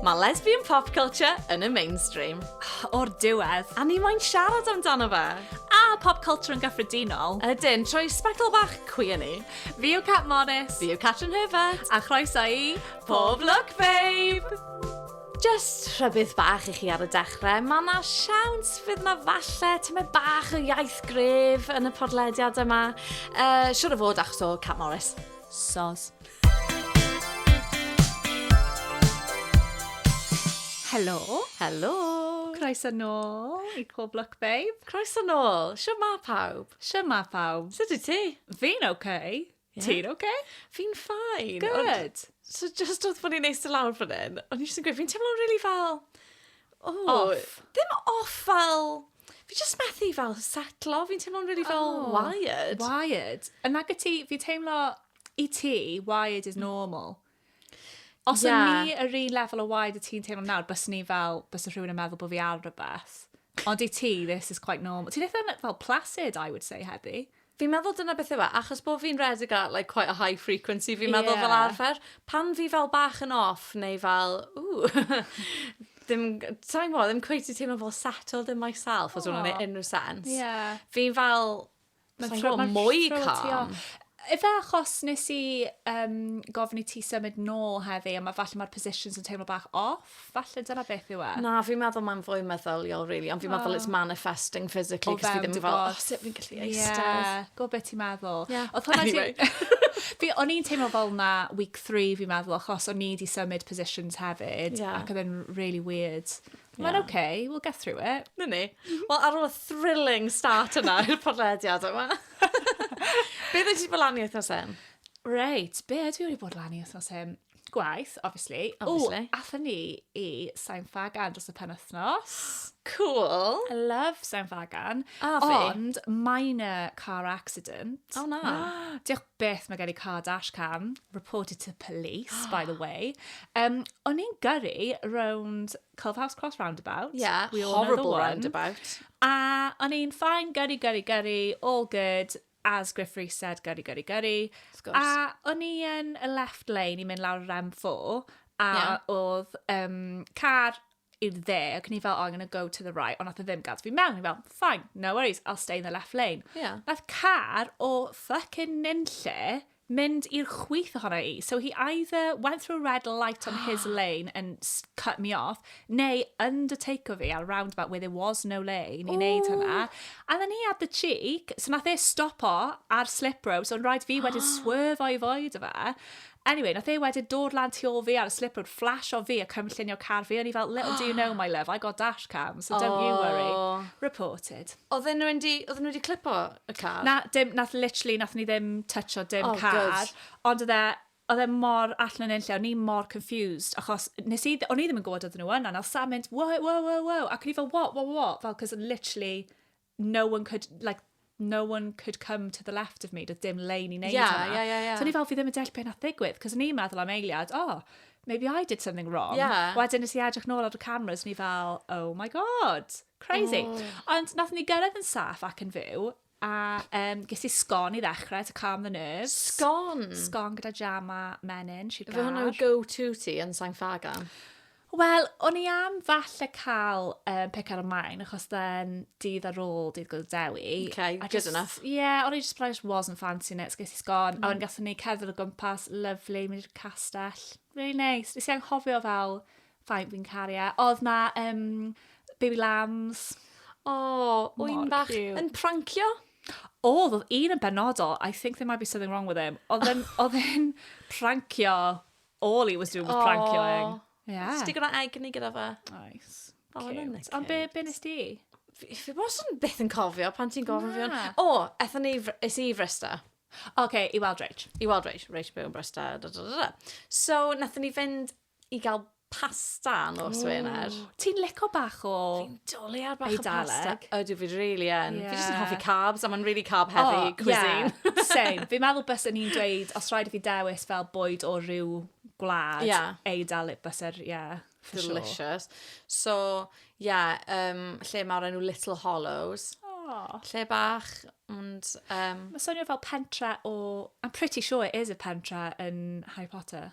Mae lesbian pop culture yn y mainstream. O'r diwedd, a ni moyn siarad amdano fe. A pop culture yn gyffredinol. Ydyn, trwy sbectol bach cwi yn ni. Fi yw Cat Morris. Fi yw Catrin Herbert. A chroeso i Pob Lwc Babe! Jyst rhybudd bach i chi ar y dechrau, mae yna siawns fydd yna falle tymed bach o iaith gref yn y podlediad yma. Uh, siwr o fod achos o Cat Morris. Sos. Helo. Helo. Croes yn ôl i Cool Block Babe. Croes yn ôl. Siwr ma pawb. Siwr ma pawb. Sut i ti? Fi'n oce. Okay. Yeah. Ti'n oce? Okay? Fi'n ffain. Good. So just oedd bod ni'n eist y lawr fan hyn, o'n i jyst yn gweud, fi'n teimlo'n really fel... Oh, off. Ddim off fel... Fi just methu fel setlo, fi'n teimlo'n really fel oh, wired. Wired. Yn nag y ti, fi'n teimlo i ti, wired is normal. Os yeah. o'n ni yr un lefel o waed y ti'n teimlo nawr, bys ni fel, bys rhywun yn meddwl bod fi ar rhywbeth. Ond i ti, this is quite normal. Ti'n eitha fel placid, I would say, heddi. Fi'n meddwl dyna beth yw e, achos bod fi'n redig at like, quite a high frequency, fi'n yeah. meddwl fel arfer, pan fi fel bach yn off, neu fel, ooh, ddim, ti'n gwybod, ddim cweith i teimlo fel settled in myself, os hwnna'n oh. unrhyw sens. Yeah. Fi'n fel, Mae'n tro mwy calm. Efe achos nes i um, gofyn i ti symud nôl heddi, a mae falle mae'r positions yn teimlo bach off, falle dyna beth yw e. Na, fi'n meddwl mae'n fwy meddyliol, really, ond fi'n oh. meddwl it's manifesting physically, cos fi ddim yn fel, oh, sut fi'n gallu eistedd. Yeah, go beth ti'n meddwl. Yeah. Oedd hwnna anyway. ti... Fi, o'n i'n teimlo fel na week 3 fi'n meddwl, achos o'n i wedi symud positions hefyd, yeah. ac oedd e'n really weird. Mae'n yeah. okay, we'll get through it. Na ni. Wel, ar ôl y thrilling start yna i'r podlediad yma. Beth ydych chi fel lan i wythnos hyn? Reit, be ydw i wedi bod lan i wythnos hyn? Gwaith, obviously. Obviously. O, atho ni i Sain Fagan dros y pen wythnos. Cool. I love Sain Fagan. A fi. Ond, minor car accident. O na. Diolch beth mae gen i car dash cam, reported to police, by the way. Um, o'n i'n gyrru round Culfhouse Cross roundabout. Yeah, we all horrible roundabout. A o'n i'n ffain, gyrru, gyrru, gyrru, all good, as Griff Rees said, gyrru, gyrru, gyrru. A o'n i yn y left lane i mynd lawr yr M4, a yeah. oedd um, car i'r dde, ac ni fel, oh, I'm gonna go to the right, ond nath e ddim gad fi mewn, ni fel, fine, no worries, I'll stay in the left lane. Yeah. Nath car o fucking nunlle mynd i'r chwyth ohono i. So he either went through a red light on his lane and cut me off, neu undertaker fi ar roundabout where there was no lane i wneud hynna. And then he had the cheek, so nath e stop o ar slip road, so rhaid fi wedyn swerfo i foed o fe. Anyway, nath e wedyn dod lan tu ôl fi ar y slip road, flasho fi a cynllunio car fi, o'n i fel, little do you know my love, I got dash cam, so don't you worry. Reported. Oedden nhw wedi, oedden nhw wedi clipo y car? Na, dim, nath literally, nath ni ddim toucho dim oh, car, good. ond oedd e, oedd e mor allan yn unlle, o'n i mor confused, achos nes i, o'n i ddim yn gwybod oedden nhw yna, nath Sam mynd, wow, wow, wow, wow, ac o'n i fel, what, what, what, fel, cos literally, no one could, like, no one could come to the left of me, doedd dim lein i wneud yeah, hwnna. Yeah, yeah, yeah. So ni fel, fi ddim yn deall beth nath ddigwydd, cos ni'n meddwl am eiliad, oh, maybe I did something wrong. Yeah. Wedyn nes i edrych nôl ar y cameras, ni fel, oh my god, crazy. Oh. Ond nath ni gyrraedd yn saff ac yn fyw, a um, ges i sgon i ddechrau to calm the nerves. Sgon? Sgon gyda jam a menyn, sigar. Fe hwnna'n go-to ti yn Sain Ffagan? Wel, o'n i am falle cael um, pick ar y maen, achos then dydd ar ôl dydd Gwyl Dewi. Okay, good just, enough. Yeah, o'n i just, but I just wasn't fancying it, so ges i sgon. Mm. A o'n gatho ni cerdded o gwmpas, lovely, mynd i'r castell. Really nice. Nes i anghofio fel, faint fi'n cario. E. Oedd na um, baby lambs. O, oh, wy'n bach yn prancio. Oedd, oedd un yn benodol, I think there might be something wrong with him. Oedd yn, oedd yn prancio All he was doing was prankioing. Yeah. Ti'n gwneud egni gyda fe? Oes. Oh, Cute. isn't it Ond be, cute? be nes di? Fi fi wasn't byth yn cofio pan ti'n gofyn fi hwn. Na. O, ethon ni, i Fr- es i i Frysta. OK, i weld Rach. I weld Rach, Rach yn byw yn Brysta. Da, da, da, da. So, nathon ni fynd i gael pasta nos Wener. Ti'n lico bach o... Daliad bach o pasta. Ydw, fi really yn. Yeah. Fi jyst yn hoffi carbs, a mae'n really carb heavy oh, cuisine. Yeah, same. Fi'n meddwl bys yn i'n dweud, os rhaid i fi dewis fel bwyd o rhyw gwlad, yeah. Eidaleg bys yr, yeah. Delicious. Sure. So, yeah, um, lle mae'r enw Little Hollows. Oh. Lle bach, ond... Um... Mae swnio fel pentra o... I'm pretty sure it is a pentra yn Harry Potter.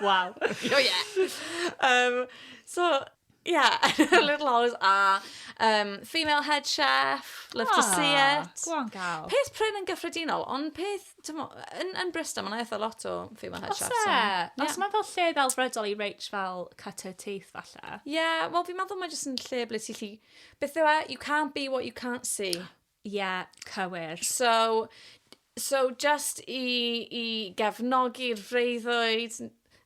Waw. Oh yeah. Um, so, yeah, Little Hours a um, Female Head Chef, Love to See Ah, It. Go on, gael. Peth prin yn gyffredinol, ond peth, tymo, yn, yn Bristol, mae'n eitha lot o female head Os chefs. e, yn- os mae'n fel lle ddelfrydol i Rach fel cut her teeth falle. Yeah, wel fi'n meddwl mae jyst yn lle ble ti lli... Beth yw e? You can't be what you can't see. Ie, cywir. So, so just i, i gefnogi'r freuddwyd,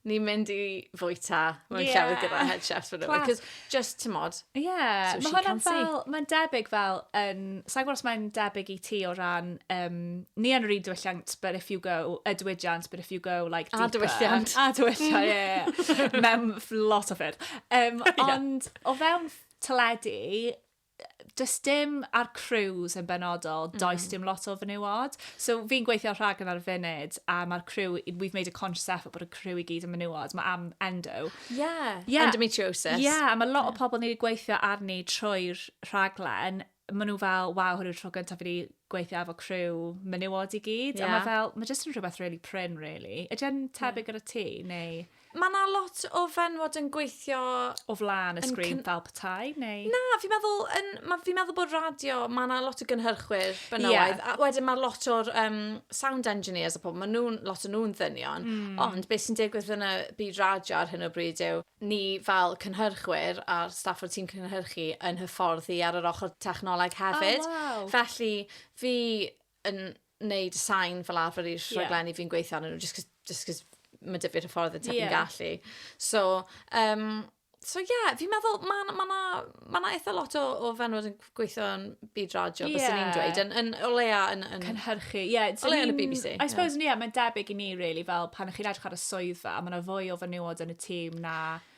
ni'n mynd i fwyta mewn yeah. llefydd gyda head chefs fan hyn. Cos just, ti'n modd. Ie, yeah. mae hwnna'n fel, mae'n debyg fel, yn, sa'n gwrs mae'n debyg i ti o ran, um, ni yn yr un diwylliant, but if you go, y diwydiant, but if you go, like, deeper. A diwylliant. A diwylliant, ie. Yeah. Mewn lot o ffyrdd. Um, ond, yeah. o fewn teledu, does dim ar crews yn benodol, mm. does dim lot o fenywod. So fi'n gweithio rhag yn ar funud, a mae'r crew, we've made a conscious effort bod y crew i gyd yn menywod. Mae am endo. Yeah, yeah. endometriosis. Yeah, mae lot yeah. o pobl ni wedi gweithio arni trwy'r rhaglen, maen nhw fel, waw, hwn yw'r tro gyntaf wedi gweithio efo crew menywod i gyd. Yeah. A mae fel, mae jyst yn rhywbeth really prin, really. Ydy'n tebyg yeah. ar y ti, neu... Mae yna lot o fenywod yn gweithio... O flaen y sgrin fel petai, neu...? Na, fi'n meddwl, yn, ma, fi'n meddwl bod radio, mae yna lot o gynhyrchwyr benywaidd, yeah. a wedyn mae lot o'r um, sound engineers a pobl, mae nhw, lot o nhw'n ddynion, mm. ond beth sy'n digwydd yn y byd radio ar hyn o bryd yw, ni fel cynhyrchwyr a'r staff o'r tîm cynhyrchu yn hyfforddi ar yr ochr technoleg hefyd. Oh, wow. Felly, fi yn neud y sain fel arfer i'r rhaglenni yeah. fi'n gweithio arnyn nhw, just cos, just cos mae dy fi'r hyffordd y ti'n yeah. gallu. So, um, so yeah, fi'n meddwl, mae yna ma, ma, ma eitha lot o, o fenwod yn gweithio yn byd radio, yeah. bys ni'n dweud, yn, yn, o leia yn... yn Cynhyrchu, ie. Yeah, o leia yn y BBC. I suppose, yeah. yeah, mae'n debyg i ni, really, fel pan ych chi'n edrych ar y swyddfa, mae yna fwy o fenywod yn y tîm na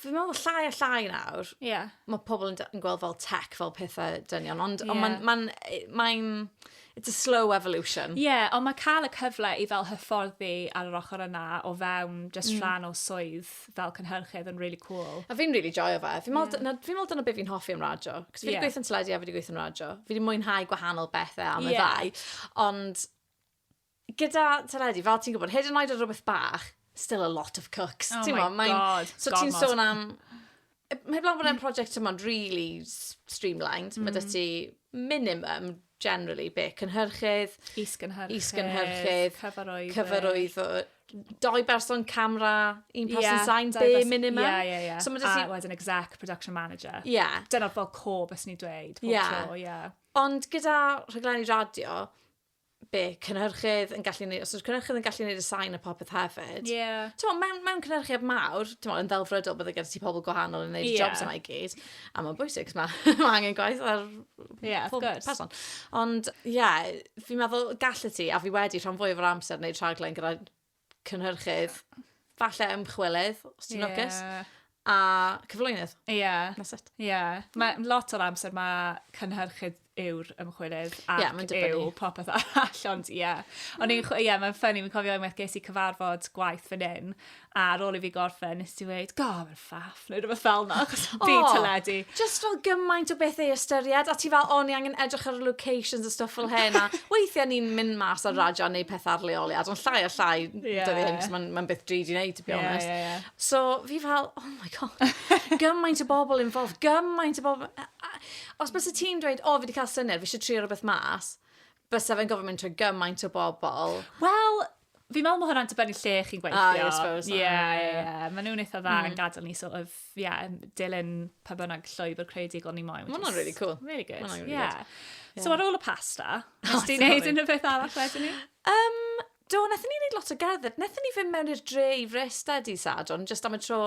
fi'n meddwl llai a llai nawr, yeah. mae pobl yn, yn gweld fel tech fel pethau dynion, ond yeah. on mae'n, ma e, mae it's a slow evolution. Ie, yeah, ond mae cael y cyfle i fel hyfforddi ar yr ochr yna o fewn just mm. rhan o swydd fel cynhyrchydd yn really cool. A fi'n really joio fe. Fi'n meddwl yeah. fi meddwl dyna beth fi'n hoffi am radio. Cos fi wedi yeah. gweithio'n teledu a fi wedi gweithio'n radio. Fi wedi mwynhau gwahanol bethau am y yeah. ddau. Ond gyda teledu, fel ti'n gwybod, hyd yn oed ar rhywbeth bach, still a lot of cooks. Oh my mae, god, So ti'n sôn am... Mae blaen bod e'n prosiect yma'n really streamlined. Mm. Mae dy ti minimum, generally, be, cynhyrchydd... Is-gynhyrchydd. Is-gynhyrchydd. Cyfarwyddyd. Cyfarwyddyd. Doi berson camera, un person yeah, sign, be minimum. Yeah, yeah, yeah. So a ti... wedyn exec, production manager. Yeah. Dyna'r fel co bys ni dweud, pob yeah. tro, yeah. Ond gyda rhaglenni radio, be, cynhyrchydd yn gallu neud, os yw'r cynhyrchydd yn gallu neud y sain a popeth hefyd. Ie. Yeah. T'mo, mewn, mewn cynhyrchiad mawr, t'mo, yn ddelfrydol bydde gyda ti pobl gwahanol yn neud y yeah. jobs yma i gyd. A mae'n bwysig, mae ma angen gwaith ar yeah, pob person. Ond, ie, yeah, fi'n meddwl, gallu ti, a fi wedi rhan fwy o'r amser neud rhaglen gyda cynhyrchydd, falle ymchwilydd, os ti'n lwcus, a cyflwynydd. Ie. Yeah. That's it. Ie. Yeah. Mae lot o'r amser mae cynhyrchydd yw'r ymchwilydd ac yeah, yw popeth arall, ond ie. Yeah. Ond mm. ie, yeah, mae'n ffynnu, mi'n cofio unwaith ges i cyfarfod gwaith fan hyn, a ar ôl i fi gorffen, nes ti weid, go, mae'n faff neu rhywbeth fel yna, achos oh, byd teledu. Just fel gymaint o beth ei ystyried, a ti fel, o, ni angen edrych ar locations a stuff fel hyn, a weithiau ni'n mynd mas ar radio neu peth ar leoliad, ond llai a llai, yeah. dyddi hyn, mae'n ma beth drud i wneud, to be yeah, honest. Yeah, yeah. So, fi fel, oh my god, gymaint o bobl involved, gymaint o bobl... Os bys y ti'n dweud, o, oh, fi wedi cael syniad, fi eisiau trio rhywbeth mas, bys fe'n gofyn mynd trwy gymaint o bobl. Wel, Fi'n meddwl mae hwnna'n dibynnu lle chi'n gweithio. Ah, yeah, I suppose. Ie, ie, ie. Mae nhw'n eitha dda yn mm. gadael ni sort of, ie, yeah, dilyn pa bynnag llwybr creadigol ni moyn. Mae hwnna'n really cool. Really good. Mae hwnna'n really yeah. good. So ar ôl y pasta, oh, nes ti'n neud unrhyw beth arall wedyn ni? Um, do, nethon ni wneud lot o gerdded. Nethon ni fynd mewn i'r dre i Fresta di Sadon, just am y tro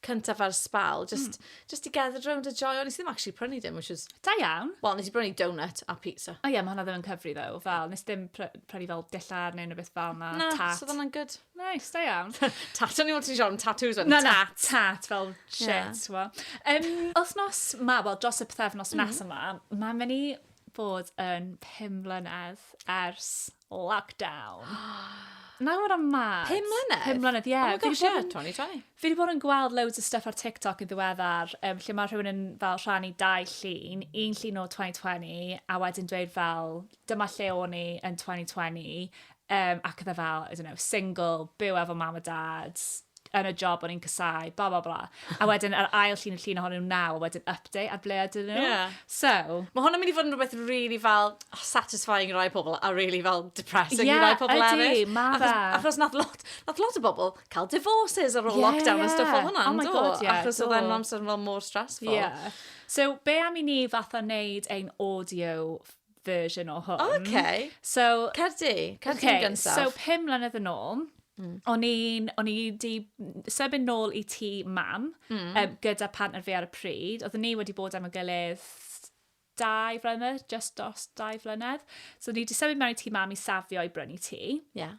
cyntaf ar sbal. Just mm. Just to gather round a joio. Nes i ddim actually prynu dim, which was... Da iawn. Wel, nes i brynu donut a pizza. O oh, ie, yeah, mae hwnna ddim yn cyfri ddo. Fel, nes ddim pr prynu fel dillar neu rhywbeth fel na. Na, tat. so hwnna'n good. Nice, da iawn. tat, o'n i'n meddwl ti'n siarad am tattoos o'n tat. tat, fel shit, yeah. well. Um, wythnos ma, wel, dros y pethefnos mm. nes yma, mae'n mynd i bod yn pum mlynedd ers Lockdown. Nawr am mad. Pum mlynedd? Pum mlynedd, ie. Yeah. Oh my gosh, yeah, 2020. Fi wedi bod yn gweld loads o stuff ar TikTok yn ddiweddar, um, lle mae rhywun yn fel rhannu dau llun, un llun o 2020, a wedyn dweud fel, dyma lle o'n i yn 2020, um, ac oedd e fel, I don't know, single, byw efo mam a dad, yn y job o'n i'n casau, bla bla bla. A wedyn ar ail llun y llun ohonyn nhw naw, a wedyn update ar ble ydyn nhw. Yeah. So... Mae hwnna'n mynd i fod yn rhywbeth really fel oh, satisfying i rai pobl a really fel depressing yeah, i rai pobl eraill. Ie, mae fe. Achos nath lot, nath lot o bobl cael divorces ar ôl yeah, lockdown yeah. a stuff o hwnna. Oh my god, yeah. Achos oedd e'n amser fel mor stressful. Yeah. So, be am i ni fatha wneud ein audio version o hwn. O, oce. So... Cer di, cer di'n okay, gyntaf. So, pum mlynedd yn ôl, mm. o'n i'n, o'n i di sefyn nôl i ti mam mm. um, gyda partner fi ar y pryd. Oedden ni wedi bod am y gilydd dau flynedd, just dos dau flynedd. So, ni wedi sefyn mewn i ti mam i safio i brynu ti. Yeah.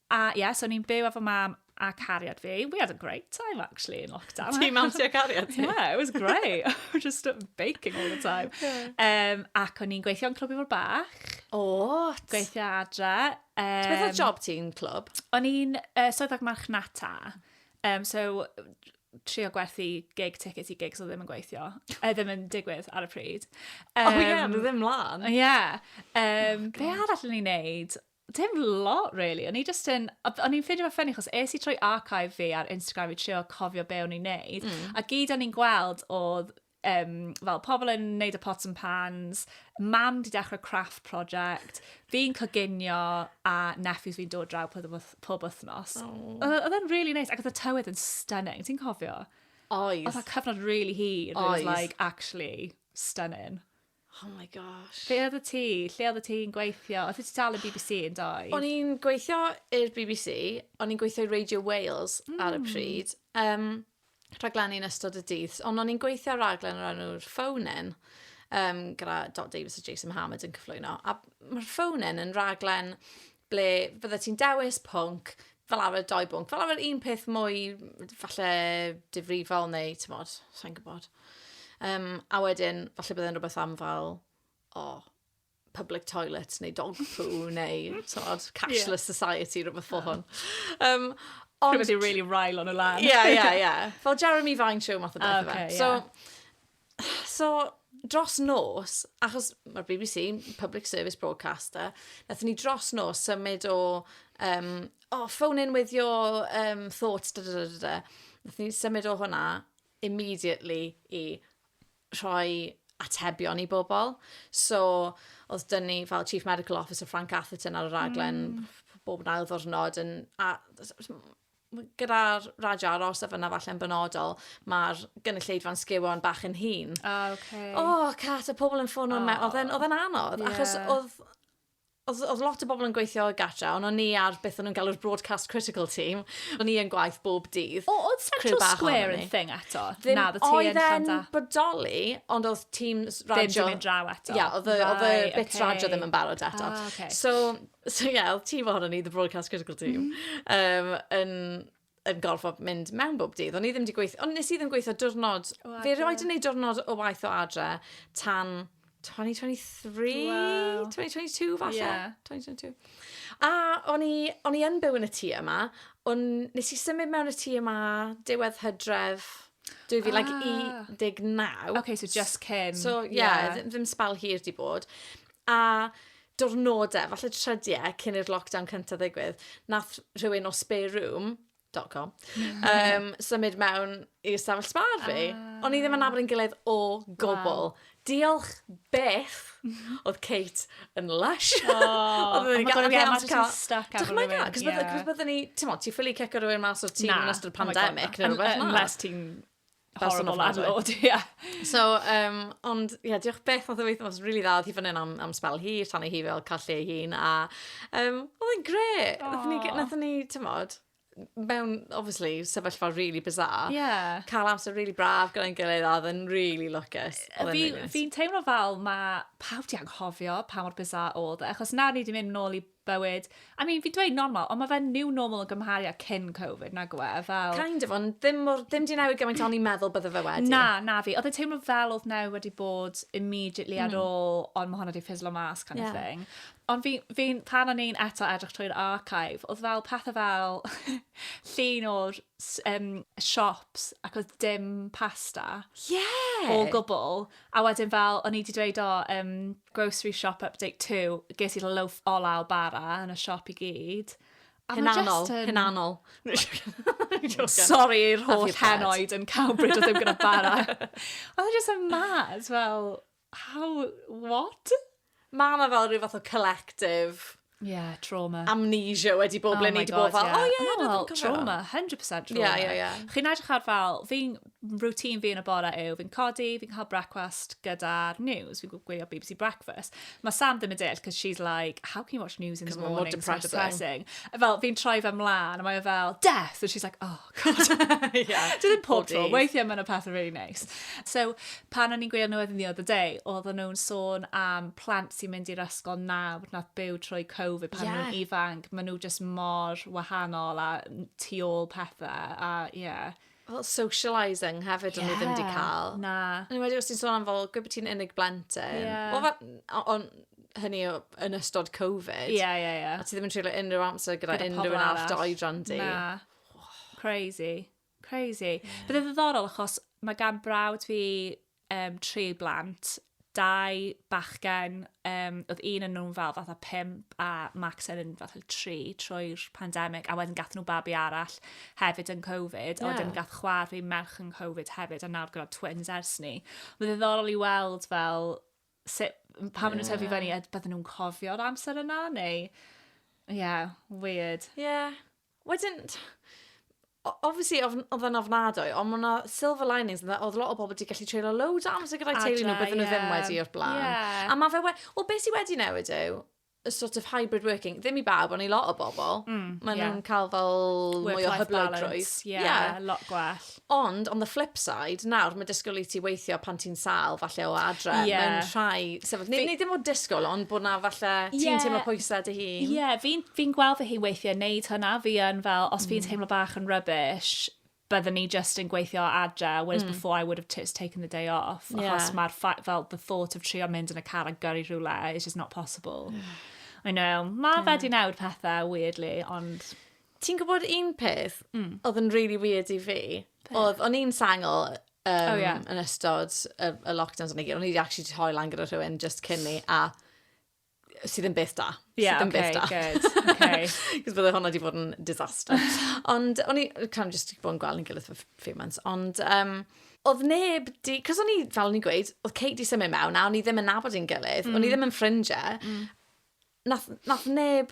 A ie, yeah, so ni'n byw efo mam a cariad fi. We had a great time, actually, in lockdown. Ti mam ti a cariad ti? Yeah, it was great. We're just baking all the time. Yeah. Um, ac o'n i'n gweithio yn Clwb Ifor Bach. O, oh, Gweithio adre. Um, Beth oedd job ti'n clwb? O'n i'n uh, swyddog marchnata. Um, so, trio gwerthu gig tickets i gigs o ddim yn gweithio. E ddim yn digwydd ar y pryd. Um, oh ie, yeah, nhw ddim mlaen. Ie. Yeah. Um, oh, be arall yn ei wneud? Dim lot really, o'n i jyst yn, o'n i'n ffeindio fe ffynnu, chos es i trwy archive fi ar Instagram i trio cofio be o'n i'n neud, mm. a gyd o'n i'n gweld oedd um, fel pobl yn neud y pots and pans, mam di dechrau craft project, fi'n coginio a nephews fi'n dod draw pob, pob wythnos. Oh. Oedd e'n really nice, ac oedd y tywydd yn stunning, ti'n cofio? Oedd. Oedd y cyfnod really hir, it was like actually stunning. Oh my gosh. Be oedd y ti? Lle oedd y ti'n gweithio? Oedd ti tal yn bbc yn doedd? O'n i'n gweithio i'r bbc, o'n i'n gweithio i Radio Wales mm. ar y hmm. pryd, um, rhaglenni yn ystod y dydd, ond o'n i'n gweithio ar raglen o'r enw'r Phonen, um, gyda Dot Davis a Jason Hammond yn cyflwyno, a mae'r Phonen yn raglen ble fydde ti'n dewis pwnc, fel arfer doi bwnc, fel arfer un peth mwy falle difrifol neu, ti'n bod, sa'n gwybod. Um, a wedyn, falle bydde'n rhywbeth am fel, o, oh, public toilet neu dog poo neu, ti'n bod, cashless yeah. society, rhywbeth fel hwn. Um, ond... Rhywbeth i'n really rael on y lan. Ie, ie, ie. Fel Jeremy Vine show math o beth. Ah, okay, yeah. So, So, dros nos, achos mae'r bbc, public service broadcaster, nath ni dros nos symud o, um, oh, phone in with your um, thoughts, da da da da da. Nath ni symud o hwnna immediately i rhoi atebion i bobl. So, oedd dyn ni fel Chief Medical Officer Frank Atherton ar y raglen mm. bob yn ail ddwrnod. Yn, a, gyda'r radio aros a fyna falle'n benodol, mae'r gynulleidfa'n sgiwan bach yn hun. O, oh, okay. O, oh, Cat, y pobl yn ffôn o'n mewn. Oedd e'n anodd, yeah. achos oedd Oedd, oedd lot o bobl yn gweithio o gatra, ond o'n ni ar beth o'n nhw'n galw'r broadcast critical team. O'n ni yn gwaith bob dydd. O, oedd Central Square yn thing eto? Ddim, Na, oedd e'n bodoli, ond oedd teams radio... Ddim yn draw eto. Ia, oedd y bit radio ddim yn barod eto. Ah, okay. So, So ie, oedd tîm ohonon ni, The Broadcast Critical Team, um, yn, yn gorfod mynd mewn bob dydd. O'n i ddim wedi gweithio, ond nes i ddim gweithio diwrnod. Fe roed yn ei diwrnod o waith o adre tan 2023, wow. 2022 falle. Yeah. 2022. A o'n i, o'n i yn byw yn y tŷ yma, ond nes i symud mewn y tŷ yma diwedd hydref 2019. Ah. Okay, so just cyn. So, yeah, yeah. ddim spel hir di bod. a diwrnodau, falle trydiau cyn i'r lockdown cyntaf ddigwydd, nath rhywun o spareroom.com um, symud mewn i ystafell sbar fi. Ah. O'n i ddim yn nabod yn gilydd o gwbl. Wow. Diolch beth oedd Kate yn lush. Oh, oedd yn gael gael mas cael... Stuck am rhywun. Cos byddwn ni, ti'n mo, ti ffili cicio rhywun mas o'r tîm yn ystod oh pandemic. Unless ti'n horrible landlord, ie. Yeah. So, um, ond, ie, yeah, diolch beth oedd y weithio, oedd really dda, oedd hi fan hyn am, am spel hi, tan ei hi fel cael lle hun, a um, oedd yn gre, nath ni, tymod, mewn, obviously, sefyllfa really bizarre. Yeah. Cael amser really braf gyda'n gilydd a oedd yn really lwcus. Fi'n fi teimlo fel mae pawb di anghofio pa mor bizarre oedd e, achos nawr ni wedi mynd nôl i bywyd. I mean, fi'n dweud normal, ond mae fe'n new normal yn gymharu â cyn Covid, nag yw e? Fel... Kind of, ond ddim, mor, ddim di newid gymaint o'n i'n meddwl bydde fe wedi. Na, na fi. Oedd e teimlo fel oedd newid wedi bod immediately ar mm. ôl, ond mae hwnna wedi ffislo mas kind yeah. of thing. Ond fi, fi, pan o'n i'n eto edrych trwy'r archive, oedd fel pethau fel llun o'r um, shops ac oedd dim pasta. Yeah! O gwbl. A wedyn fel, o'n i wedi dweud o, um, Grocery shop update too. Ges i'r loaf ola o bara yn y siop i gyd. A ma' Hunanol, just yn- hunanol. Jocan. Sorry i'r Have holl your bread. henoed yn Cowbridge oedd ddim gyda bara. Oedd e just yn mad, fel, how, what? Mae yna fel rhyw fath o collective Ie, trauma. Amnesia wedi bod oh ble ni wedi bod fel, oh yeah, yeah, no, trauma, 100% trauma. Yeah, yeah, yeah. Chi'n edrych ar fel, fi'n routine fi yn y bore yw, fi'n codi, fi'n cael breakfast gyda'r news, fi'n gwylio BBC Breakfast. Mae Sam ddim yn deall, because she's like, how can you watch news in the morning? Because depressing. depressing. Fel, fi'n troi fe mlaen, a mae e fel, death! And she's like, oh, yeah. Dyn nhw'n pob tro. Weithiau mae'n y pethau really nice. So, pan o'n i'n gwylio nhw edrych the day, oedd nhw'n sôn am plant sy'n mynd i'r ysgol nawr nath byw trwy Covid pan yeah. nhw'n ifanc. Mae nhw just mor wahanol a tu ôl pethau. A, yeah. Well, socialising hefyd yeah. o'n nhw ddim wedi cael. Na. Yn wedi os ti'n sôn am fel, gwybod ti'n unig blentyn. Yeah. Well, fa, on, hynny o, yn ystod Covid. Ie, yeah, ie, yeah, ie. Yeah. A ti ddim yn treulio unrhyw amser gyda, gyda unrhyw un arall dy oedran di. Na. Crazy. Crazy. Yeah. Bydd e ddiddorol achos mae gan brawd fi um, tri blant, dau bachgen, um, oedd un yn nhw'n fel fatha pimp a Max yn fatha tri trwy'r pandemig a wedyn gath nhw babi arall hefyd yn Covid yeah. a wedyn gath chwar fi merch yn Covid hefyd a nawr gyda twins ers ni. Bydd e ddiddorol i weld fel sut, pan maen nhw'n tyfu fyny, a bydden nhw'n cofio'r amser yna, neu... Ie, yeah, weird. Ie. Yeah. Wedyn, o- obviously ofn- odd e'n ofnadwy, ond ma' 'na silver linings ynde, odd lot o bobl 'di gallu treulio loads o amser gyda'i teulu nhw, Adra, bydden nhw ddim ie. wedi o'r blaen. Ie. A ma' fe we- wel be' sy wedi newid yw y sort of hybrid working, ddim i bawb ond i lot o bobl. Mm, ie. Ma' nhw'n ca'l fel mwy o Work-life hyblygrwydd. balance, ie, lot gwell. Ond, on the flip side, nawr mae disgwyl i ti weithio pan ti'n sal, falle o adre, yeah. mewn rhai sefyll. Neu, neu ddim o disgwyl, ond bod na falle ti'n yeah. teimlo pwysau dy hun. Ie, yeah, fi'n fi gweld fy hun weithiau wneud hynna, fi yn fel, os mm. fi'n teimlo bach yn rubbish, byddwn ni just yn gweithio adre, whereas mm. before I would have just taken the day off, yeah. achos mae'r fel the thought of trio mynd yn y car a gyrru rhywle is just not possible. Mm. I know, mae yeah. fe di newid pethau, weirdly, ond... Ti'n gwybod un peth... Mm. ...oedd yn rili weird i fi? Be'? Oedd, o'n i'n sengl yym... O ie. ...yn ystod y y lockdowns a 'na gyd. O'n i 'di actually 'di rhoi lan gyda rhywun jyst cyn 'ny a sy ddim byth da. Ie oce good. Sy ddim byth da. Oce. Achos bydde hwnna 'di bod yn disaster. Ond o'n i yy kind of jyst 'di bod yn gweld ein gilydd for f- few months ond yym oedd neb 'di... 'C'os o'n i, fel o'n i'n gweud, oedd Kate 'di symud mewn a o'n ni ddim yn nabod ein gilydd... Mm. ...o'n ni ddim yn ffrindie... Mm. ...nath nath neb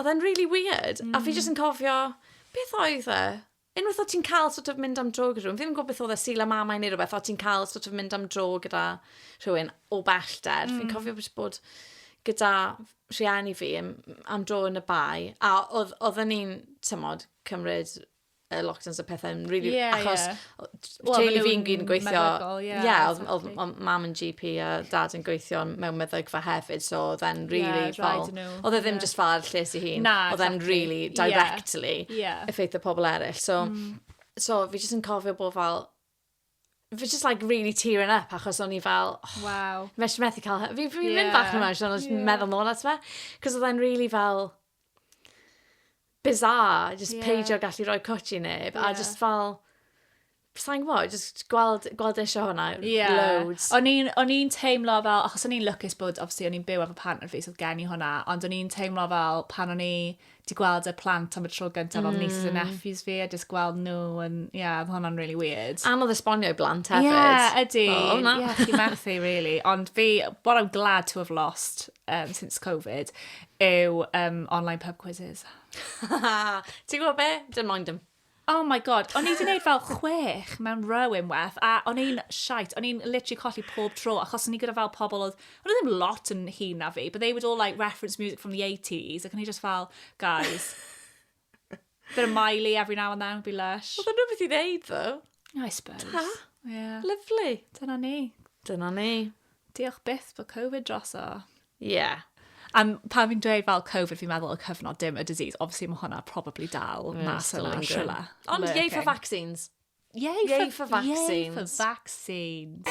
Odd e'n rili wierd. A fi jyst yn cofio, beth oedd e? Unwaith o' ti'n ca'l sort of mynd am dro gyda rhywun, fi'm yn gwbo beth odd e, Sul y Mamau ne' rwbeth, o' ti'n ca'l sort of mynd am dro gyda rhywun o bellder. Fi'n cofio jyst bod gyda rhieni fi yym am dro yn y Bae, a odd- odden ni'n t'mod cymryd y lockdowns a pethau yn rili... Ie, ie. Achos well, teulu maen fi'n nhw'n gyd yn gweithio... meddygol, ie, Ie, oedd, oedd, exactly. oedd mam yn GP a dad yn gweithio mewn meddygfa hefyd, so oedd e'n Ie, really rhaid fel... iddyn nhw, Oedd e ddim ie. just fel lles i hun. Na, Oedd e'n exactly. really Ie. directly Ie. effeithio pobl eraill. So, so fi jyst yn cofio bod fel, Fi just like really tearing up achos o'n i fel... Oh, wow. Mes i methu cael... Fi'n fi yeah. mynd bach yn emotional, yeah. meddwl nôl at fe. Cos oedd e'n really fel... Bizarre, just yeah. peidio gallu rhoi cwtch i neb. Yeah. A just fel... Sa'n gwybod, just gweld, gweld eisiau hwnna yeah. loads. O'n i'n teimlo fel, achos o'n i'n lwcus bod, obviously, o'n i'n byw efo partner fi, so gen i hwnna, ond o'n i'n teimlo fel pan o'n i 'di gweld y plant am y tro gyntaf, mm. nieces and nephews fi, a just gweld nhw, yn, ie, yeah, oedd hwnna'n really weird. Anodd esbonio i blant hefyd. Ie, yeah, ydy. Oh, na. Yeah, chi methu, really. Ond fi, what I'm glad to have lost um, since Covid, yw um, online pub quizzes. Ti'n gwybod be? Dim moyn dim. Oh my god, o'n i wedi gwneud fel chwech mewn row unwaith, a o'n i'n shite, o'n i'n literally colli pob tro, achos o'n i gyda fel pobl oedd, o'n i ddim lot yn hun na fi, but they would all like reference music from the 80s, ac o'n i just fel, guys, bit of Miley every now and then would be lush. Oedd yn rhywbeth i ddeud, ddo? I suppose. Ta? Yeah. Lovely. Dyna ni. Dyna ni. Diolch byth bod Covid droso. Ie. Yeah. A pan fi'n dweud fel Covid, fi'n meddwl y cyfnod dim y disease. Obviously, mae hwnna probably dal yeah, mas yna, siwla. Ond yay for vaccines. Yay, yay for, for vaccines. Yay for vaccines.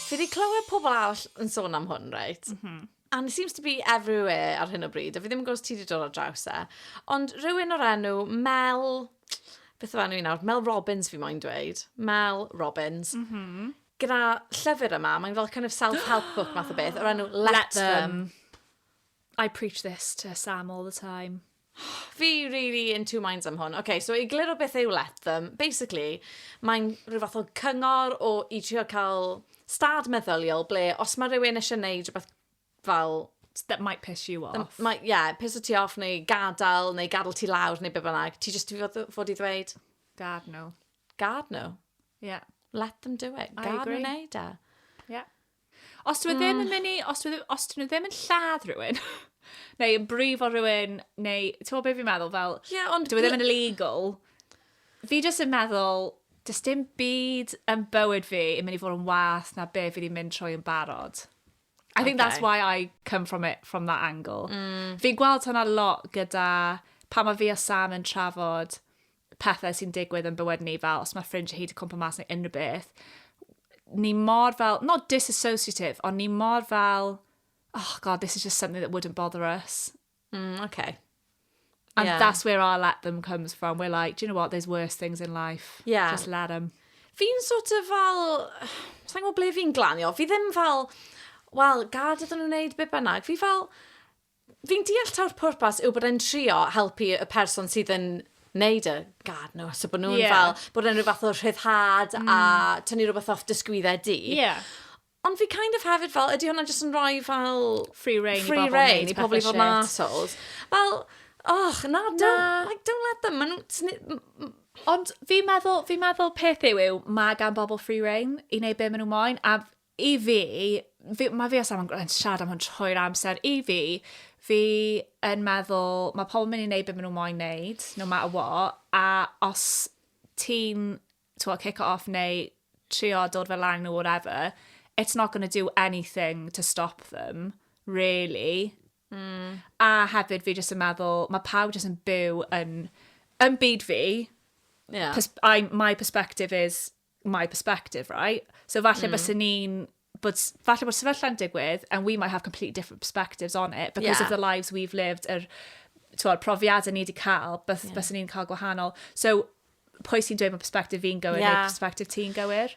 Fi wedi clywed pobl arall yn sôn am hwn, reit? Mm -hmm. and it seems to be everywhere ar hyn o bryd, a fi ddim yn gwybod os ti wedi dod ar draws e, ond rhywun o'r enw Mel, beth o enw i nawr, Mel Robbins fi moyn dweud, Mel Robbins, mm -hmm. gyda llyfr yma, mae'n fel kind of self-help book math o beth, o'r enw Let, Let them. them. I preach this to Sam all the time. Fi rili in two minds am hwn. Oce, so i egluro beth yw Let Them, basically, mae'n rhyw fath o cyngor o i trio cael stad meddyliol ble os mae rhywun eisiau gwneud rhywbeth fel that might piss you off. Ie, mae, yeah, piss ti off neu gadael neu gadael ti lawr neu be bynnag. Ti jyst i fod, fod i ddweud, Gad nhw. gad nhw. Yeah. Let them do it. I Gad nhw agree. wneud e. Yeah. Os dwi ddim yn mynd i, os dwi os dwi ddim yn lladd rhywun, neu yn brifo rhywun, neu, ti'n gwybod beth fi'n meddwl, fel, yeah, ond dwi ddim yn illegal, fi jyst yn meddwl, dys dim byd yn bywyd fi yn mynd i fod yn wath na be fi wedi mynd trwy yn barod. I okay. think that's why I come from it from that angle. Mm. Fi'n gweld hwnna lot gyda pa mae fi a Sam yn trafod pethau sy'n digwydd yn bywyd ni, fel os mae ffrindiau hi wedi cwmpa mas neu unrhyw beth, ni mor fel, not disassociative, ond ni mor fel, oh god, this is just something that wouldn't bother us. Mm, okay. And yeah. that's where our let them comes from. We're like, do you know what, there's worse things in life. Yeah. Just let them. Fi'n sort of fel, sa'n gwybod ble fi'n glanio, fi ddim fel, wel, gad ydyn nhw'n wneud be bynnag. Fi fel, Fi'n deall taw'r pwrpas yw bod e'n trio helpu y person sydd yn wneud y gad nhw, so bod nhw'n yeah. fel, bod e'n rhyw fath o rhyddhad mm. a tynnu rhywbeth off dysgwyddau di. Yeah. Ond fi kind of hefyd fel, ydy hwnna jyst yn rhoi fel... Free reign free i bobl reign, i pobl i fod yn assholes. Fel, och, na, don't, na. Like, don't let them. Maen Ond fi'n meddwl, fi meddwl peth yw yw, mae gan bobl free reign i wneud be maen nhw'n moyn, a I fi, fi mae fi os am yn siarad am hwn trwy'r amser, i fi, fi yn meddwl, mae pobl yn mynd i wneud beth maen nhw moyn wneud, no matter what, a os ti'n, ti'n kick it off neu trio dod fel lang nhw, whatever, it's not going to do anything to stop them, really. Mm. A hefyd fi jyst yn meddwl, mae pawb jyst yn byw yn, yn byd fi, yeah. pers- I, my perspective is my perspective, right? So falle mm. bys ni'n but falle bod sefyllau'n digwydd and we might have completely different perspectives on it because yeah. of the lives we've lived yr er, profiadau ni wedi cael bys, yeah. bys ni'n cael gwahanol so pwy sy'n dweud bod perspective fi'n gywir yeah. neu perspective ti'n gywir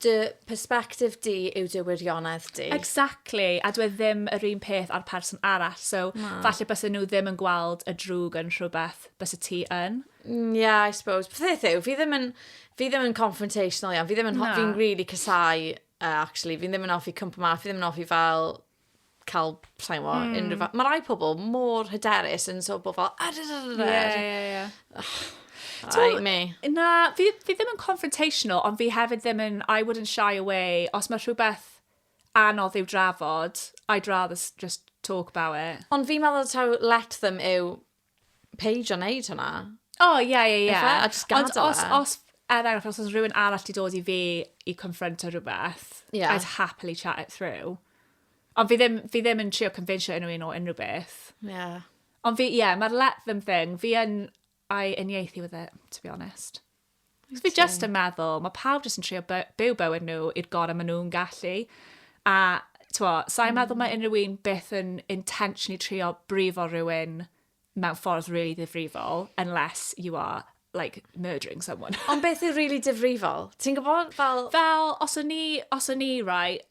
dy perspective di yw dy wirionedd di. Exactly, a dwi e ddim yr un peth ar person arall, so no. falle bys nhw ddim yn gweld y drwg yn rhywbeth bys y ti yn. Mm, yeah, I suppose. Peth yw, fi ddim yn, fi ddim yn confrontational iawn. Fi ddim yn, fi'n really casau, uh, actually. Fi ddim yn offi cwmpa ma, fi ddim yn offi fel cael, sain fo, mm. unrhyw fath. Mae rai pobl mor hyderus yn so bod fel, a da da da da. Yeah, yeah, yeah. Right, me. Na, fi, fi ddim yn confrontational, ond fi hefyd ddim yn, I wouldn't shy away, os mae rhywbeth anodd i'w drafod, I'd rather just talk about it. Ond fi'n meddwl taw let them yw peidio wneud hynna. O, oh, ie, yeah, ie, yeah, ie. Yeah. Efe, a just gadael e. Ond os, os, er enghraifft, os oes rhywun arall wedi dod i fi i confronto rhywbeth, yeah. I'd happily chat it through. Ond fi ddim, fi ddim yn trio confensio unrhyw un o unrhyw beth. Yeah. Ond fi, ie, yeah, mae'r let them thing, fi yn, I uniaethu with it, to be honest. Fi just yn meddwl, mae pawb jyst yn trio byw bywyd nhw i'r gorau maen nhw'n gallu. A, twa, sa'n mm. meddwl mae hmm. unrhyw un beth yn intentionally trio brifo rhywun mewn ffordd really ddifrifol, unless you are like murdering someone. Ond beth yw really difrifol? Ti'n gwybod fel... Fel, os o'n ni, os o'n ni, right,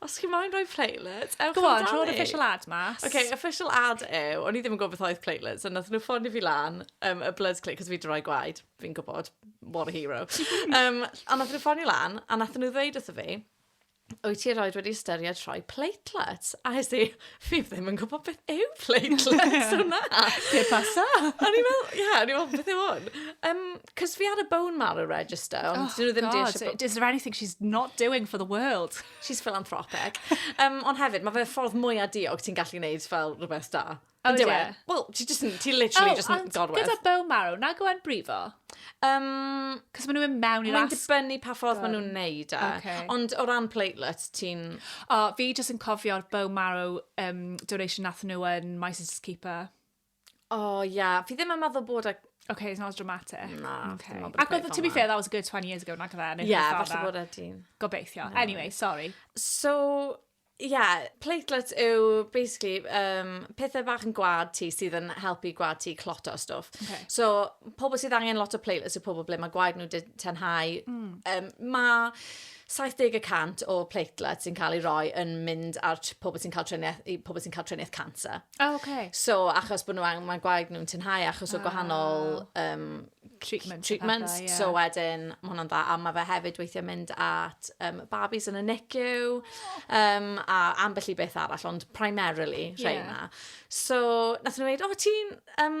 Os chi moyn rhoi playlist, ewch Go on, rho'r official ad mas. OK, official ad yw, o'n i ddim yn gwybod beth oedd playlist, ond nath nhw ffonio fi lan, um, y Bloods Click, cos fi wedi rhoi gwaed, fi'n gwybod, what a hero. um, a nath nhw ffonio lan, a nath nhw ddweud wrtho fi, wyt ti erioed wedi ystyried rhoi platelets? A hes i, fi ddim yn gwybod beth yw platelets hwnna. Pe pasa. O'n i'n meddwl, ie, o'n i'n meddwl, beth yw hwn? Um, Cos fi ar y bone marrow register, ond oh, dyn nhw ddim deall... God, is there anything she's not doing for the world? She's philanthropic. um, ond hefyd, mae fe ffordd mwy a diog ti'n gallu gwneud fel rhywbeth da. Oh, Ynddo e? Wel, ti just, ti literally oh, just yn gorwedd. Gyda bone marrow, na gwen brifo? Um, Cos maen nhw'n mewn i'r asp. Mae'n dibynnu pa ffordd maen nhw'n neud e. Okay. Ond o ran platelets, ti'n... O, oh, fi just yn cofio'r bone marrow um, donation nath nhw yn My Sister's Keeper. Oh, yeah. Fi ddim yn meddwl bod e... Okay, it's not as dramatic. Na, okay. Ac oedd, to be fair, that was a good 20 years ago, nag oedd e? Yeah, falle bod e dyn. Gobeithio. No. Anyway, sorry. So, yeah, platelets yw, basically, um, pethau bach yn gwad ti sydd yn helpu gwad ti clot o stwff. Okay. So, pobl sydd angen lot o platelets yw pobl ble mae gwaed nhw tenhau. Mm. Um, mae 70% o platelets sy'n cael ei roi yn mynd ar pobl sy'n cael triniaeth, pobl sy'n cael triniaeth cancer. O, oh, okay. So, achos bod nhw angen, mae gwaed nhw'n tynhau achos o gwahanol um, treatments. treatments. Pethau, yeah. So wedyn, mae hwnna'n dda. A mae fe hefyd weithiau mynd at um, babis yn y NICU um, a ambell i beth arall, ond primarily yeah. rheina. So, nath nhw dweud, o, oh, ti'n um,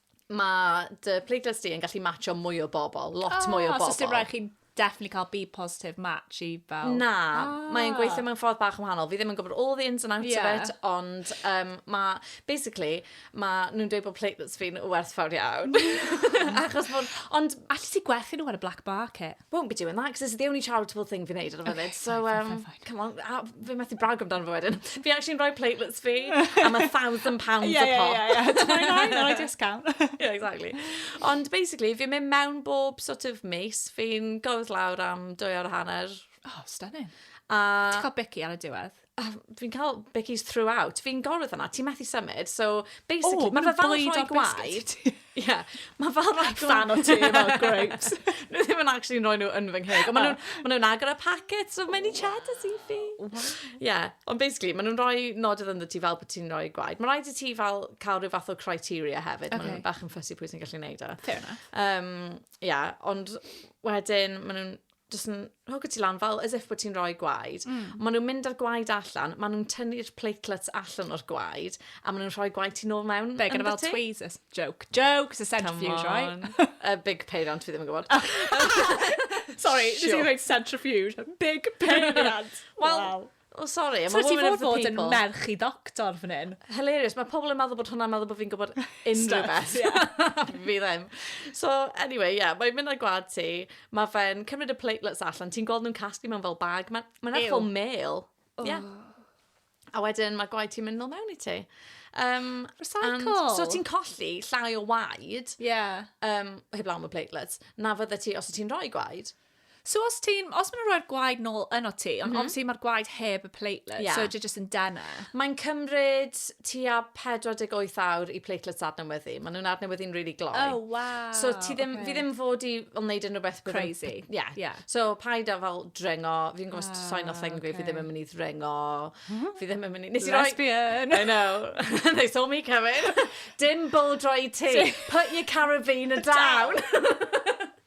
Mae dy playlist di yn gallu matcho mwy o bobl, lot oh, mwy o bobl. So sy'n rhaid chi definitely cael be positive match i fel... Na, ah. mae'n gweithio mewn ffordd bach yn wahanol. Fi ddim yn gwybod all the ins and outs yeah. of it, ond um, mae, basically, mae nhw'n dweud bod platelets fi'n werthfawr iawn. Achos bod... Ond allu ti gwerthu nhw ar y black market? won't be doing that, because it's the only charitable thing fi'n neud ar y funud. Okay, so, um, fine, fine, come on, a, fi methu brag amdano fo wedyn. Fi actually'n rhoi platelets fi am a thousand pounds yeah, a pop. Yeah, yeah, yeah. Tomorrow night, on a discount. yeah, exactly. Ond basically, fi'n mynd mewn bob sort of mis. Fi'n gofod lawr am dwy awr a hanner. Oh, stunning. A... Ti'n cael bici ar y diwedd? Oh, fi'n cael bickies throughout. Fi'n gorfod yna, ti methu symud. So, basically, oh, mae fe fel rhoi gwaed. Ie, mae fel rhoi gwaed. Fan o ti, fel grapes. Nhw ddim yn actually rhoi nhw yn fy ngheg. Ond maen nhw'n nhw agor y packet, so mae'n i cheddars i fi. Ie, ond basically, maen nhw'n rhoi nodydd ynddo ti fel bod ti'n rhoi gwaed. Mae'n rhaid i ti fel cael rhyw fath o criteria hefyd. Okay. Maen nhw'n bach yn ffysi pwy sy'n gallu neud o. E. Fair enough. Um, yeah, ond wedyn, maen nhw'n jyst yn hogo ti lan fel as if bod ti'n rhoi gwaed. Mm. Maen nhw'n mynd â'r gwaed allan, maen nhw'n tynnu'r platelets allan o'r gwaed, a maen nhw'n rhoi gwaed ti'n ôl mewn. Be, gyda fel tweezers? Joke. Joke, it's a centrifuge, right? a big peiriant, fi ddim yn gwybod. Sorry, sure. nes i rhaid centrifuge. Big peiriant. Wel, wow. O sori, am y woman of the people. So ti fod bod yn merch i ddoctor fan hyn? Hilarious, mae pobl yn meddwl bod hwnna'n meddwl bod fi'n gwybod unrhyw beth. fi ddim. So, anyway, ie, yeah, mae'n mynd ar gwad ti, mae fe'n cymryd y platelets allan, ti'n gweld nhw'n casglu mewn fel bag, mae'n ma ethol mail. Oh. Yeah. A wedyn mae gwaed ti'n mynd nôl mewn i ti. Um, Recycle. So ti'n colli llai o waed. Yeah. Um, heb lawn y platelets. Na fydde ti, os ti'n rhoi gwaed. So os ti'n, os maen nhw'n rhoi'r gwaed nôl yno ti, ond mm -hmm. obviously mae'r gwaed heb y platelet, yeah. so ydy jyst yn dena. Mae'n cymryd tua 48 awr i platelets adnewyddu. Maen nhw'n adnewyddu'n really gloi. Oh, wow. So ti ddim, okay. fi ddim fod i fel wneud unrhyw beth crazy. Ie. Yeah. yeah. So paid â fel drengo, fi'n gwybod ah, sain o thengri, okay. fi ddim yn mynd i ddrengo, mhm. fi ddim yn mynd i... Nes i roi... Lesbian. I know. They saw me coming. Dim bull dry tea. Put your carabiner down.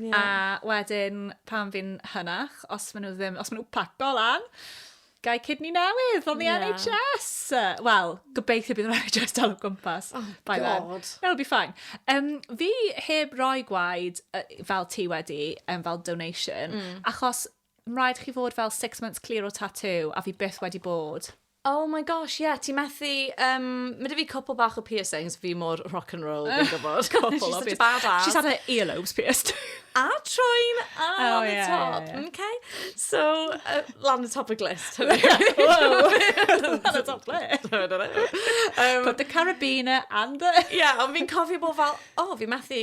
Ie. A wedyn pan fi'n hynach, os maen nhw ddim, os maen nhw paco lan, gai cydni newydd fel the yeah. NHS. Wel, gobeithio bydd yr NHS dal o gwmpas. Oh, by God. Then. That'll be fine. Um, fi heb roi gwaed uh, fel ti wedi, um, fel donation, mm. achos rhaid chi fod fel six months clear o tattoo, a fi byth wedi bod. Oh my gosh ie ti methu yym ma' 'da fi cwpwl bach o piercings fi mor rock and roll fi'n gwbod cwpwl o pier-... She's such a bad ass. She's had her ear lobes pierced. A troi'n ar y top. O ie ie. Mcê? So yy lan y top y glust. Whoa. Lan y top ble? T'mod o le? Yym. Put the carabiner and the... Ie ond fi'n cofio bo' fel o fi methu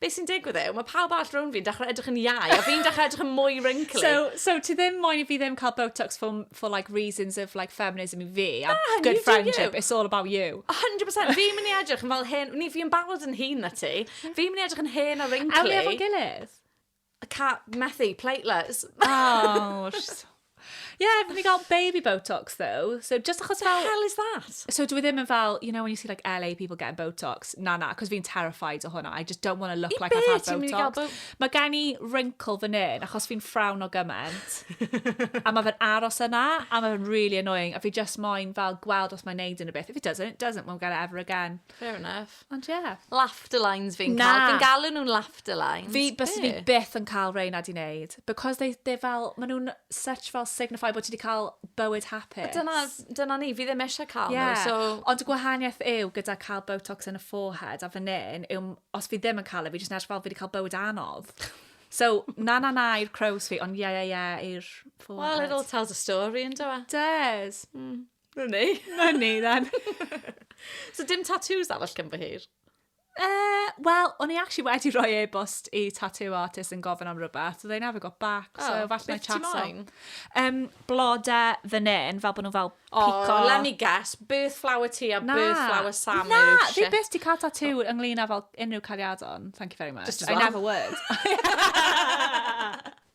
be sy'n digwydd yw, mae pawb arall rhwng fi'n dechrau edrych yn iau, a fi'n dechrau edrych yn mwy wrinkly. So, so ti ddim moyn i fi ddim cael Botox for, for like reasons of like feminism i fi, a Na, good friendship, it's all about you. 100%, fi'n mynd i edrych yn fel hen, ni fi'n barod yn hun na ti, fi'n mynd i edrych yn hen a wrinkly. Awn ni efo'n gilydd? I can't, methu, platelets. Oh, just... Yeah, fi gael baby Botox, though. So, just achos fel... The hell is that? So, dwi ddim yn fel, you know, when you see, like, LA people getting Botox. Na, na, cos fi'n terrified o hwnna. I just don't want to look I like I've had Botox. Bo mae gen i wrinkle fan hyn, achos fi'n ffrawn o gymaint. a mae fe'n aros yna, a mae fe'n really annoying. A fi just moyn fel gweld os mae'n neud yn y beth. If it doesn't, it doesn't. We'll get it ever again. Fair enough. Ond ie. Yeah. Laughter lines fi'n cael. Fi'n galw nhw'n laughter lines. Fi, bys fi byth yn cael rei na di wneud. Because they, they fel, maen nhw'n such fel signify bod ti wedi cael bywyd hapus. Dyna, dyna ni, fi ddim eisiau cael yeah. nhw. So... Ond y gwahaniaeth yw gyda cael botox yn y forehead a fan hyn, yw, os fi ddim yn cael e, fi jyst yn edrych fel fi wedi cael bywyd anodd. So, na na na i'r crows fi, ond ie ie ie i'r forehead. Well, it all tells a story, yn dweud. Does. Mm. Money. Money, then. so dim tattoos arall cyn fy hir? Uh, Wel, o'n i actually wedi rhoi e-bost i tattoo artist yn gofyn am rhywbeth, so they never got back, oh, so falle mae chat on. Um, blode fy nen, fel bod nhw fel oh, pico. Oh, let me guess, birth flower ti a na, birth flower Sam Na, fi beth ti cael tattoo ynglyn â fel unrhyw cariadon, thank you very much. Just I never would.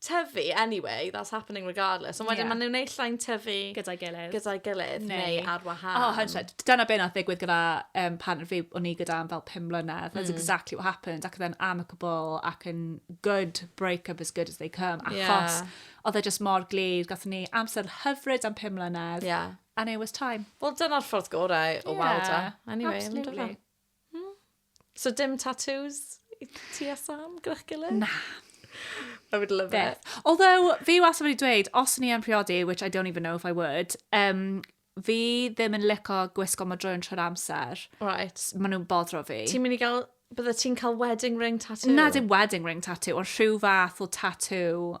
tyfu anyway, that's happening regardless. Ond wedyn yeah. maen nhw'n ei llain tyfu... Gyda'i gilydd. Gyda'i gilydd, neu, neu ar wahân. Oh, hundred. Dyna beth nath ddigwydd gyda um, partner fi o'n i gyda am fel 5 mlynedd. That's mm. exactly what happened. Ac then amicable ac yn good break-up as good as they come. Achos yeah. oedd e just mor glid. Gath ni amser hyfryd am 5 mlynedd. Yeah. And it was time. Wel, dyna'r ffordd gorau o yeah. weld e. Anyway, Absolutely. So dim tattoos i ti a Sam gyda'ch gilydd? Na. I would love Beth. it. Although, fi wastad wedi dweud, os ni yn priodi, which I don't even know if I would, um, fi ddim yn lico gwisgo madrwy'n trwy'r amser. Right. Maen nhw'n bodro fi. Ti'n mynd i gael... Bydde ti'n cael wedding ring tattoo? Na, dim wedding ring tattoo, ond rhyw fath o tattoo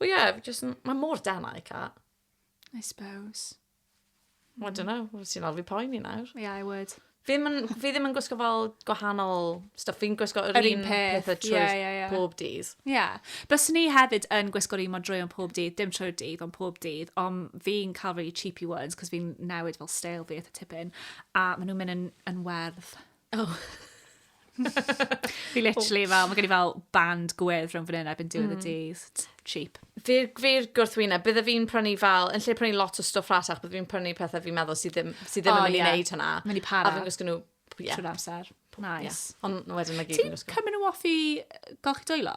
Wel ie, fi jyst yn... Mae mor denau, Cat. I suppose. I don't know, wyt ti'n alw fi poeni nawr. Yeah, I would. Fi ddim yn, fi ddim yn gwisgo fel gwahanol stuff. Fi'n gwisgo yr, Yr un un peth. pethau Ie, trwy'r ie, ie. pob dydd. Ie. Yeah. Byswn i hefyd yn gwisgo'r un mor drwy ond pob dydd, dim trwy'r dydd ond pob dydd, ond fi'n cael really cheapy ones, cos fi'n newid fel stael fi eitha tipyn, a maen nhw'n mynd yn, yn werdd. O! Fi literally fel, mae gen i fel band gwedd rhwng fan hyn erbyn diwedd y mm. dydd. Cheap. Fi'r fi gwrthwyna, bydde fi'n prynu fel, yn lle prynu lot o stwff rhatach, bydde fi'n prynu pethau fi'n meddwl sydd ddim, sydd ddim oh, yn mynd i wneud hynna. Mynd i para. A fi'n gwisgo nhw yeah. trwy'r amser. Nice. Yeah. Ond wedyn mae gyd yn gwisgo. Ti'n cymryd nhw off i golchi dwylo?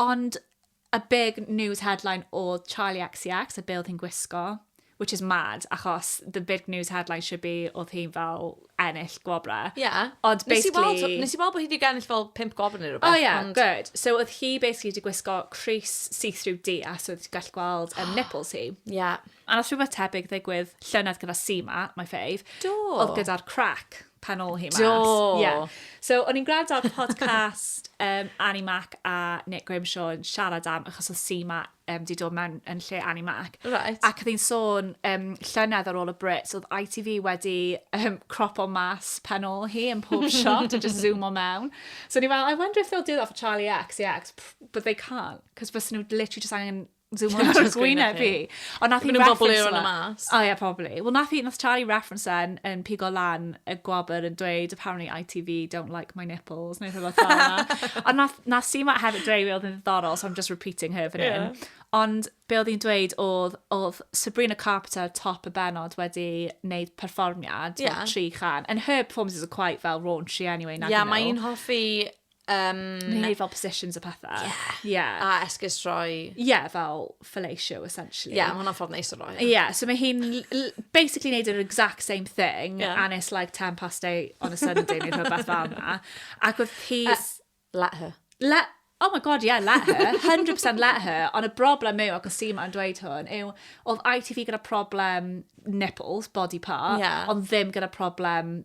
Ond y big news headline oedd Charli XCX a be oedd hi'n gwisgo, which is mad, achos the big news headline should be oedd hi'n fel ennill gwobrau. Ie. Ond basically... Nes i weld bod hi wedi ennill fel pimp gwobrau neu rhywbeth. O ie, good. So oedd hi basically wedi gwisgo crys see-through du a so oedd ti'n gallu gweld um, nipples hi. Ie. A oedd rhywbeth tebyg ddigwydd llynedd gyda Sima, my fave. Do. Oedd gyda'r crack. pan ôl hi mas. Do. Yeah. So, o'n i'n gwrando ar podcast um, Annie Mac a Nick Grimshaw yn siarad am, achos oedd Sima um, di dod mewn yn lle Annie Mac. Right. Ac oedd hi'n sôn um, llynedd ar ôl y Brits, oedd ITV wedi um, crop o mas pen ôl hi yn pob shot a just zoom o mewn. So, ni fel, I wonder if they'll do that for Charlie X, yeah, but they can't, cos fes nhw literally just angen Zoom on to gwyneb fi. Ond nath i reference... Maen nhw'n mas. O ie, probably. Wel, nath i, nath Charlie reference yn, yn pigo lan y gwabr yn dweud, apparently ITV don't like my nipples, neu rhywbeth fel yna. Ond nath, nath si ma hefyd dweud fi oedd yn ddiddorol, so I'm just repeating her fan yeah. hyn. Ond be oedd hi'n dweud oedd, oedd Sabrina Carpenter top y benod wedi wneud perfformiad, yeah. tri chan. And her performances are quite fel raunchy anyway. Ie, yeah, mae'n hoffi Um, Mae'n gwneud fel positions a pethau. Ie. Yeah. Yeah. A esgus rhoi. Ie, yeah, fel fellatio, essentially. Ie, yeah, mae hwnna'n ffordd neis o roi. Ie, yeah, so mae hi'n basically neud yr exact same thing, yeah. and it's like 10 past 8 on a Sunday neu rhywbeth fel yma. Ac oedd hi... Uh, let her. Let... Oh my god, yeah, let her. 100% let her. Ond y broblem yw, ac o si ma'n dweud hwn, yw, oedd ITV gyda problem nipples, body part, yeah. ond ddim gyda problem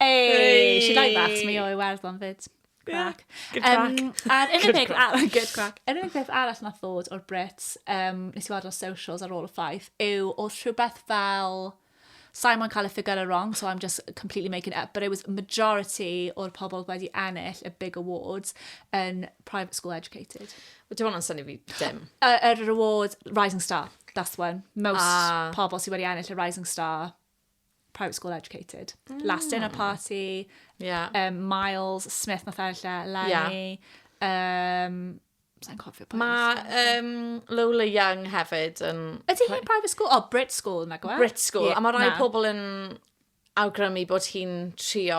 Hey, she like that. Mi o'i werddon fyd. Crac. Good crack. Um, a'r unig peth arall, good crack. Yr unig peth arall nath ddod o'r Brits, um, nes i weld o'r socials ar ôl y ffaith, yw oedd rhywbeth fel... Simon cael y ffigur wrong, so I'm just completely making it up, but it was majority o'r pobl wedi ennill y big awards yn private school educated. Wel, dim ond yn syni fi dim. Yr award Rising Star, that's one. Most ah. pobl sydd wedi ennill y Rising Star private school educated. Mm. Last dinner party, yeah. um, Miles, Smith, nath e lle, Lenny. Yeah. Um, Sa'n cofio pa Mae um, Lola Young hefyd yn... Ydy hi'n private school? O, oh, Brit school, na gwa? Brit school. Yeah, a mae rhai pobl yn awgrymu bod hi'n trio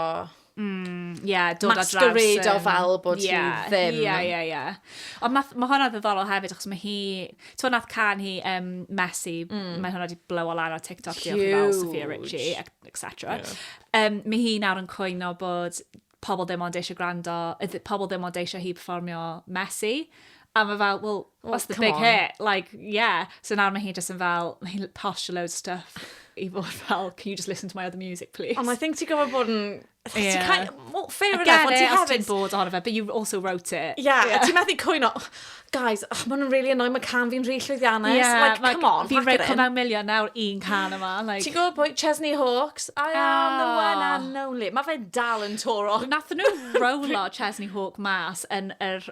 Mm, ie, yeah, dod ar draws... Masquerade o fel bod hi ddim. Ie, ie, ie. Ond mae ma hwnna ddiddorol hefyd, achos mae hi... Ti'n nath can hi um, Messi, mm. mae hwnna wedi blow lan ar TikTok, diolch i fel Sophia Richie, etc. Yeah. Um, mae hi nawr yn cwyno bod pobl ddim ond eisiau gwrando, pobl ddim ond eisiau hi performio Messi. A mae fel, well, Well, That's the big on. hit. Like, yeah. So nawr mae hi just yn fel, mae hi'n posh loads of stuff i fod fel, can you just listen to my other music, please? Ond I think ti'n gofod bod yn... Yeah. Kind of, well, fair enough, Again, ond ti hefyd... ti'n bod ohono fe, but you also wrote it. Yeah, yeah. ti'n methu cwyno, oh, guys, oh, maen nhw'n really annoying, mae can fi'n rhi llwyddiannus. Yeah, like, like, come on, Fi'n rhaid come out milion nawr un can yma. Like... Ti'n gwybod pwy? Chesney Hawks. I oh. am the ah. one and only. Mae fe dal yn toro. Nath nhw rowlo Chesney Hawk mas yn yr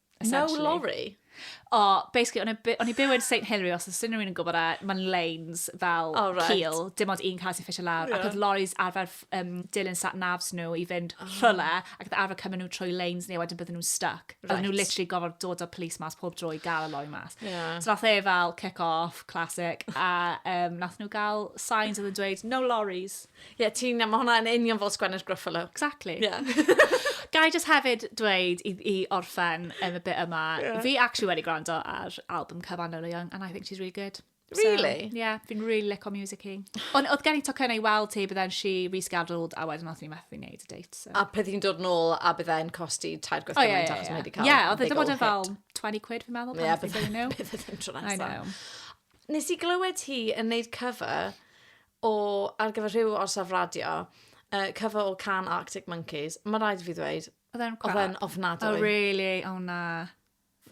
No lorry? O, basically, o'n i o'n i byw yn St Hilary, os ydyn nhw'n yn gwybod e, mae'n lanes fel oh, right. cil, dim ond un cael sy'n ffisio lawr, yeah. ac oedd lorries arfer um, dilyn sat nafs nhw i fynd oh. rhywle, ac oedd arfer cymryd nhw trwy lanes neu wedyn bydden nhw'n stuck. Right. Oedden nhw literally gofod dod o'r police mas pob drwy gael y lorry mas. Yeah. So nath e fel kick off, classic, a um, nath nhw gael signs oedd yn dweud, no lorries. Ie, yeah, ti'n... Mae hwnna yn union fel sgwennu'r Gruffalo. Exactly. Yeah. Gai just hefyd dweud i, i orffen yn y bit yma, yeah. fi actually wedi gwrando ar album cyfan Lola Young, and I think she's really good. Really? So, yeah, fi'n really lico music i. Ond oedd gen i tocyn ei weld ti, but then she rescheduled, a wedyn oedd ni methu wneud y date. So. A peth i'n dod nôl, a bydd e'n costi tair gwaith oh, yeah, yeah, yeah. wedi cael. Yeah, oedd wedi bod yn fel 20 quid fi'n meddwl. Yeah, bydd e'n tro nesaf. I know. Nes i glywed hi yn neud cover O, ar gyfer rhyw orsaf radio, yy, cover o can Arctic Monkeys, mae rhaid i fi ddweud, oedd e'n crap? Oedd e'n ofnadwy. Oh, really? Oh, na.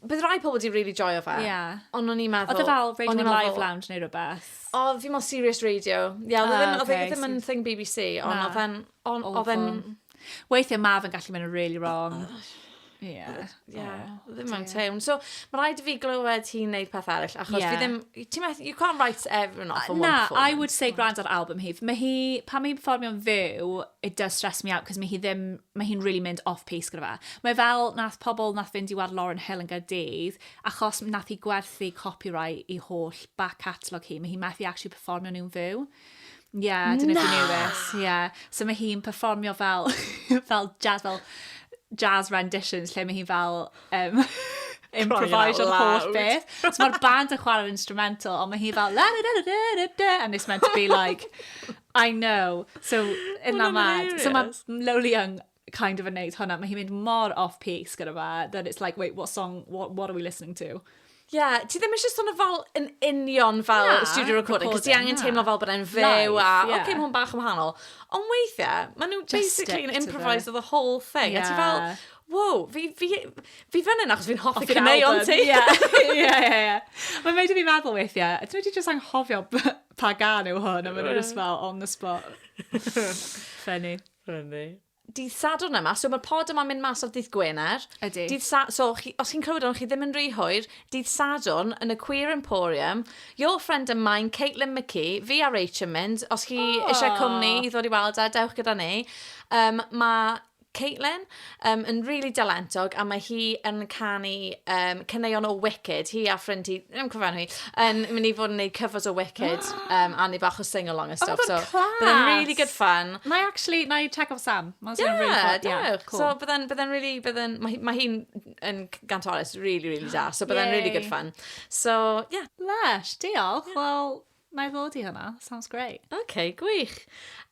Bydd rai pobl wedi really joio fe. Yeah. Ond o'n i'n meddwl... Oedd e fel Radio Live fel... Lounge neu rhywbeth? O, fi mewn Serious Radio. Ie, yeah, oedd e ddim, ah, okay, ddim yn thing BBC, ond oedd e'n... Oedd e'n Weithiau mae fe'n gallu mynd yn really wrong. Oh, Yeah. Yeah, oh, ddim mewn tewn. So, mae rhaid i fi glywed hi'n neud peth arall, achos yeah. fi ddim... Ti'n meddwl, you can't write everyone off on one performance. Na, I would say gwrand ar album hi. Mae hi, pan mae'n performio'n fyw, it does stress me out, cos mae hi ddim, mae hi'n really mynd off pace gyda fe. Mae fel, nath pobl nath fynd i war Lauren Hill yn Gardydd, achos nath hi gwerthu copyright i holl back catalogue hi, mae hi methu actually performio'n un fyw. Ie, yeah, dyna Na! Dyna Dewis. Ie. Yeah. So mae hi'n performio fel, fel jazz, fel jazz renditions, lle mae hi fel... Um, improvised o'r holl beth. So mae'r band yn chwarae'r instrumental, ond mae hi fel... La, da, da, da, da, da, and it's meant to be like... I know. So, in that mad. So mae Lowly Young kind of yn neud hwnna. Mae hi'n mynd mor off-piece gyda fe, that it's like, wait, what song, what, what are we listening to? Ie, yeah, ti ddim eisiau sôn o fel yn union fel na, studio recording, cos ti angen teimlo fel bod e'n fyw a, yeah. oce, okay, mae'n bach yn wahanol. Ond weithiau, maen nhw basically yn improviso the whole thing. Yeah. A ti fel, wow, fi, fi, fi fan hyn achos fi'n hoffi caneuon ti. Ie, ie, ie. Mae'n mynd i fi meddwl weithiau, ti'n mynd i jyst anghofio pa gan yw hwn, a maen nhw'n just fel on the spot. Funny. Rydw. Dydd Sadwrn yma, so mae'r pod yma'n mynd mas ar dydd Gwener. Ydy. Dydd Sa... So, chi, os chi'n clywed hwn, chi ddim yn rhy hwyr, dydd Sadwrn yn y Queer Emporium, your friend and mine, Caitlin McKee, fi a Rach yn mynd, os chi oh. eisiau cwmni i ddod i weld e, dewch gyda ni. Um, mae Caitlin, um, yn rili really dalentog, a mae hi yn canu um, caneuon o Wicked. Hi a ffrind hi, ddim cofio hi, yn mynd i fod yn gwneud cyfos o Wicked um, a ni bach o sing-along a oh stuff. Oh, so, class! Byddai'n really good fun. Na i actually, na i check off Sam. Mae'n yeah, really fun. Yeah, cool. So byddai'n bydden really, bydden, mae, mae hi'n yn gantoris really, really da. So byddai'n yeah. really good fun. So, yeah. Lush, diolch. Yeah. Well, Na i ddod i hwnna, sounds great. OK, gwych.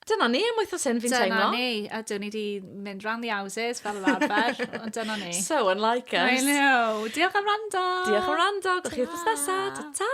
Dyna ni am wythnos hyn, fi'n teimlo. Dyna ni, a dyn ni di mynd round the houses fel yr arfer, ond dyna ni. So unlike us. I know. Diolch am rando. Diolch am rando. Gwch chi wythnos nesaf. Ta-ta!